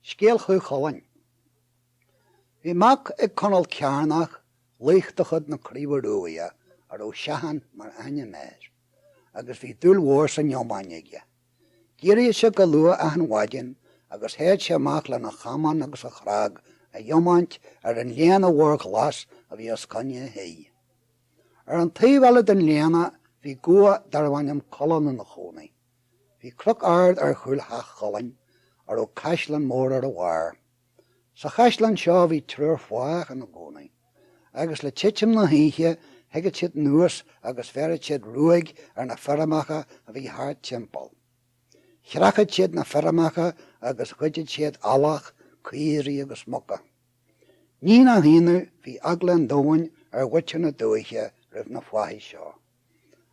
Scéal Chú Chulainn. Bhí mac ag Conall Cearnach, laoch de chuid na Craoibhe Ruaidhe a raibh Seaghán mar ainm air, agus bhí dúil mhór san iomáin aige. D'éiríodh sé go luath achan mhaidin agus théadh sé amach lena chamán agus a chnag a dh'iomáint ar an léana mhór ghlas a bhí os coinne a thí. Ar an taobh eile den léana bhí gabha darbh ainm Culann ina chónaí. Bhí cnoc ard ar chúl theach Chulainn a raibh caisleán mór ar a bharr. Sa chaisleán seo bhí triúr fathach ina gcónaí, agus le titim na hoíche thigeadh siad anuas agus bheireadh siad ruaig ar na feirmeacha a bhí thart timpeall. Chreachadh siad na feirmeacha agus ghoideadh siad eallach, caoirigh agus muca. Ní nach ionadh, bhí eagla an domhain ar mhuintir na dúiche roimh na fathaigh seo.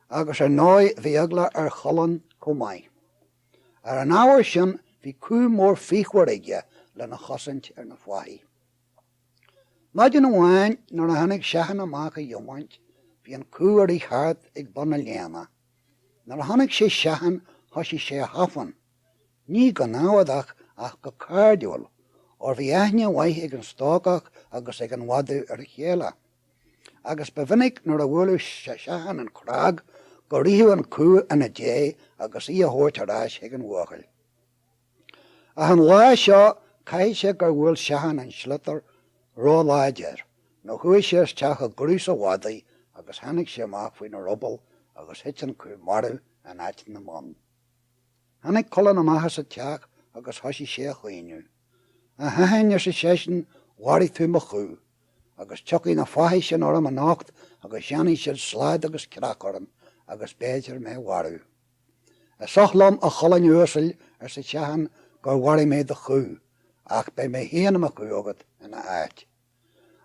agus ar ndóigh bhí eagla ar Chulann chomh maith. Ar an ábhar sin bhí cú mór fíochmhar aige lena chosaint ar na fathaigh. Maidin amháin nuair a tháinig Seaghan amach a dh'iomáint bhí an cú a rith thart ag bun an léana. Nuair a chonaic sé Seaghan thoisigh sé a thafann, ní go námhadach ach go cairdiúil, óir bhí aithne mhaith ag an stócach agus ag an mhadadh ar a chéile. agus ba mhinic nuair a bhuaileadh Seaghan an chnag go ritheadh an cú ina diaidh agus í a thabhairt ar ais chuig an bhuachaill. Ach an lá seo caithfidh sé gur bhuail Seaghan an sliotar róláidir nó chuaigh sé isteach i gcraos an mhadaidh agus tháinig sé amach faoina ruball agus thit an cú marbh in áit na mbonn. Tháinig Culann amach as an teach agus thoisigh sé a chaoineadh. A Sheaghain, arsa seisean, mharaigh tú mo chú, agus tiocfaidh na fathaigh sin orm anocht agus dhéanfaidh siad slad agus creach orm agus b'fhéidir mé mharú. Is oth liom, a Chulainn uasail, arsa Seaghan, gur mharaigh mé do chú, ach beidh mé féin i mo chú agat ina áit.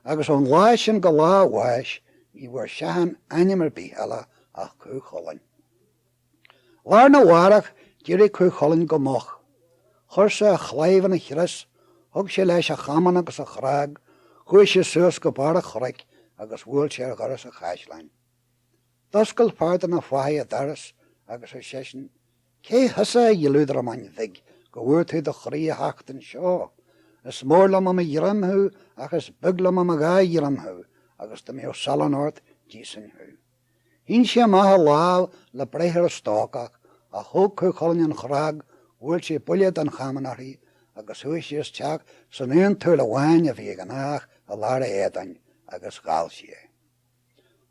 Agus ón lá sin go lá a bháis ní bhfuair Seaghán ainm ar bith eile ach Cú Chulainn. Lá'r na bhárach d'éirigh Cú Chulainn go moch. Chuir sé a chlaidheamh in a chrios, thug sé leis a chamán agus a chnag, chuaidh sé suas go barr an chnoic agus bhuail sé ar dhoras an chaisleáin. D'oscail fear de na fathaigh an doras agus ar seisean, Cé thusa, a dhioludramáin bhig, go bhfuair tú do chroí a theacht anseo? Is mór liom i mo ghreim thú ach is beag liom i mo dhá ghreim thú agus dá mbeadh salann ort, d'íosfainn thú. Shín sé amach a lámh le breith ar an stócach ach thóg Cú Chulainn an chnag, bhuail sé buille den chamán uirthi agus chuaigh sí isteach san aon tsúil amháin a bhí ag an fhathach i lár a éadain agus dhall sí é.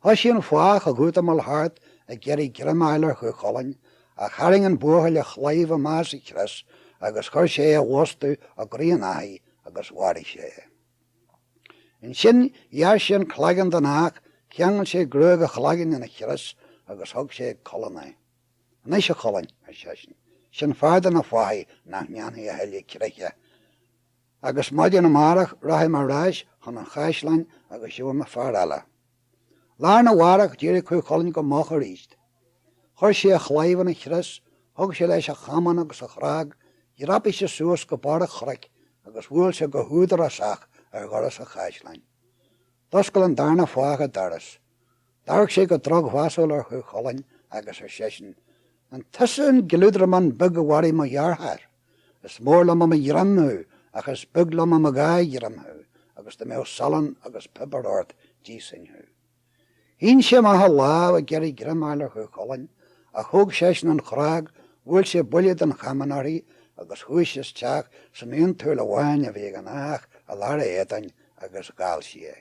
Thoisigh an fathach ag útamáil thart ag iarraidh greim a fháil ar Chú Chulainn, ach tharraing an buachaill a chlaíomh amach as a chrios agus chuir sé é i bhfostú i gcroí an fhathaigh agus mharaigh sé é. Ansin ghearr sé an cloigeann den fhathach, cheangail sé gruaig a chloiginn ina chrios agus thug sé ag Culann é. Anois, a Chulainn, ar seisean, sin fear de na fathaigh nach ndéanfaidh a thuilleadh creiche Agus maidin amárach rachaidh mé ar ais chun an chaisleáin agus gheobhaidh mé fear eile. Lá arna mhárach d'éirigh Cú Chulainn go moch aríst. Chuir sé a chlaíomh ina chrios, thug sé leis a chamán agus a chnag, dhreapaigh sé suas go barr an chnoic agus bhuail sé go húdarásach ar dhoras an chaisleáin. D'oscail an darna fathach an doras. D'amharc sé go drochmheasúil ar Chú Chulainn agus ar seisean, An tusa an gliúdramán beag a mharaigh mo dheartháir? Is mór liom i mo ghreim thú, ach is beag liom i mo dhá ghreim thú, agus dá mbeadh salann agus piobar ort d'íosfainn thú. Shín sé amach a lámh ag iarraidh greim a fháil ar Chú Chulainn, ach thóg seisean an chnag, bhuail sé buille den chamán uirthi agus chuaigh sí isteach san aon tsúil amháin a bhí ag an fhathach i lár a éadain agus dhall sí é.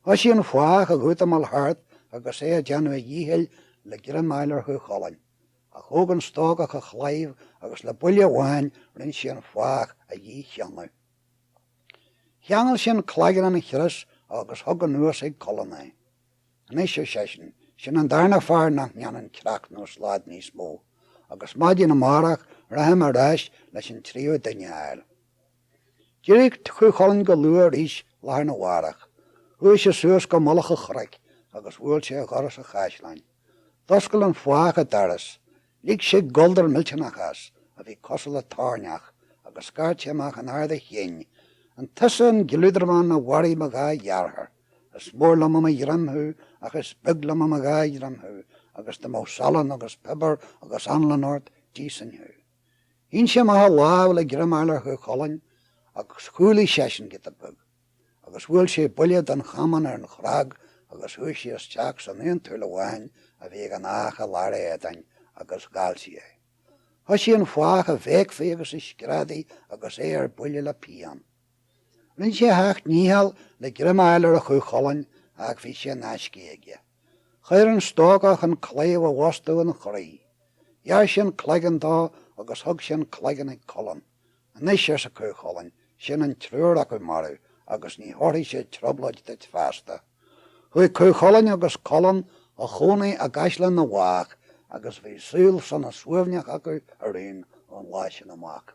Thoisigh an fathach ag útamáil thart agus é ag déanamh a dhíchill le greim a fháil ar Chú Chulainn, Ach thóg an stócach a chlaíomh agus le buille amháin rinn sé an fathach a dhícheannadh. Cheangail sé an cloigeann ina chrios agus thug anuas ag Culann é. Anois, ar seisean, sin an darna fear nach ndéanann creach nó slad níos mó, agus maidin amárach rachaidh mé ar ais leis an tríú duine a fháil. D'éirigh Cú Chulainn go luath arís lá arna mhárach. Chuaigh sé suas go mullach an chnoic agus bhuail sé ar dhoras an chaisleáin. D'oscail an fathach an doras, lig sé goldar millteanach as a bhí cosúil le toirneach agus scairt sé amach in ard a chinn, An tusa an gliúdramán a mharaigh mo dhá dheartháir? Is mór liom i mo ghreim thú ach is beag liom i mo dhá ghreim thú agus dá mbeadh salann agus piobar agus anlann ort, d'íosfainn thú. Shín sé amach a lámh le greim a fháil ar Chú Chulainn agus chúlaigh seisean giota beag. agus bhuail sé buille den chamán ar an chnag agus chuaigh sí isteach san aon tsúil amháin a bhí ag an fhathach i lár a éadain agus dhall sí é. Thoisigh an fathach a bhéicfí agus a screadaí agus é ar buile le pian. Rinn sé a sheacht ndícheall le greim a fháil ar Chú Chulainn ach bhí sé in aiscidh aige. Chuir an stócach an claíomh i bhfostú ina chroí. Ghearr sé an cloigeann dó agus thug sé an cloigeann ag Culann. Anois, arsa Cú Chulainn, sin an triúr acu marbh agus ní thabharfaidh siad trioblóid duit feasta. Chuaigh Cú Chulainn agus Culann a chónaí i gcaisleán na bhfathach agus bhí saol sona suaimhneach acu araon ón lá sin amach.